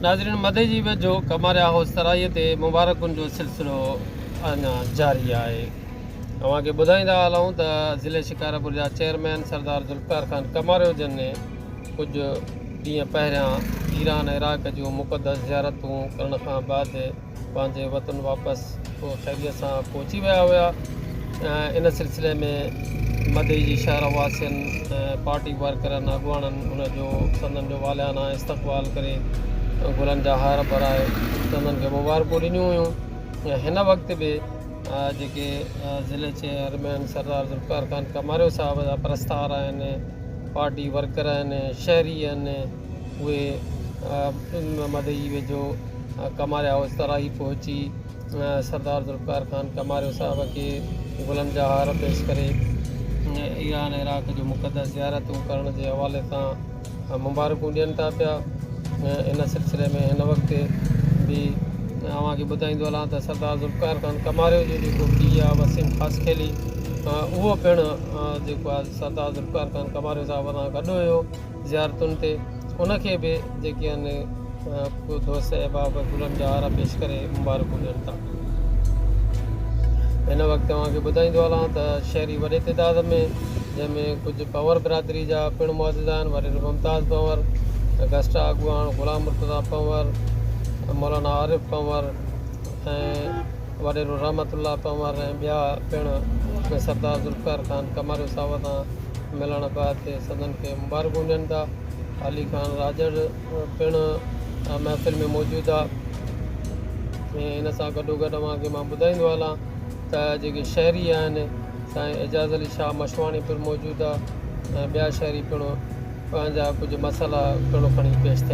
ناظرين مدي جي ويجهو ڪماريا هائوس ترائي تي مبارڪن جو سلسلو اڃا جاري آهي اوهان کي ٻڌائيندا هلون ته ضلعي شڪارپور جا چيئرمين سردار ذوالفقار خان ڪماريو جن ڪجهه ڏينهن پهريان ايران عراق جون مقدس زيارتون ڪرڻ کان بعد پنهنجي وطن واپس خيريت سان پهچي ويا هيا ان سلسلي ۾ مدئي جي شهر واسين پارٽي ورڪرن اڳواڻن ان جو سندن جو والهانه استقبال ڪري گلن جا هار پرائي سندن کي مبارڪون ڏنيون هيون ۽ هن وقت به جيڪي ضلعي چيئرمين سردار ذوالفقار خان ڪماريو صاحب جا پرستار آهن پارٽي ورڪر آهن شهري آهن اهي مدئي ويجهو ڪماريا هائوس تراهي پهچي سردار ذوالفقار خان ڪماريو صاحب کي گلن جا هار پيش ڪري ايران عراق جون مقدس زيارتون ڪرڻ جي حوالي سان مبارڪون ڏين ٿا پيا ان سلسلي ۾ هن وقت به اوهان کي ٻڌائيندو هلان ته سردار ذوالفقار خان ڪماريو جو جيڪو پيء آهي وسيم خاصخيلي اهو پڻ جيڪو آهي سردار ذوالفقار خان ڪماريو صاحب سان گڏ هيو زيارتن تي ان کي به جيڪي آهن ڪو دوست احباب گلن جا هار پيش ڪري مبارڪون ڏين ٿا هن وقت اوهان کي ٻڌائيندو هلان ته شهري وڏي تعداد ۾ جنهن ۾ ڪجهه پنور برادري جا پڻ معزز آهن وڏيرو ممتاز پنور گسٽا اڳواڻ غلام مرتضيٰ پنور مولانا عارف پنور ۽ وڏيرو رحمت الله پنهور ۽ ٻيا پڻ ۾ سردار ذوالفقار خان ڪماريو صاحب سان ملڻ بعد تي سندن کي مبارڪون ڏين ٿا علي خان راڄڙ پڻ محفل ۾ موجود آ ۽ ان سان گڏو گڏ اوهان کي مان ٻڌائيندو هلان ته جيڪي شهري آهن سائين اعجاز علي شاهه مشواڻي پڻ موجود آ ۽ ٻيا شهري پڻ پنهنجا ڪجهه مسئلا پڻ کڻي پيش ٿيا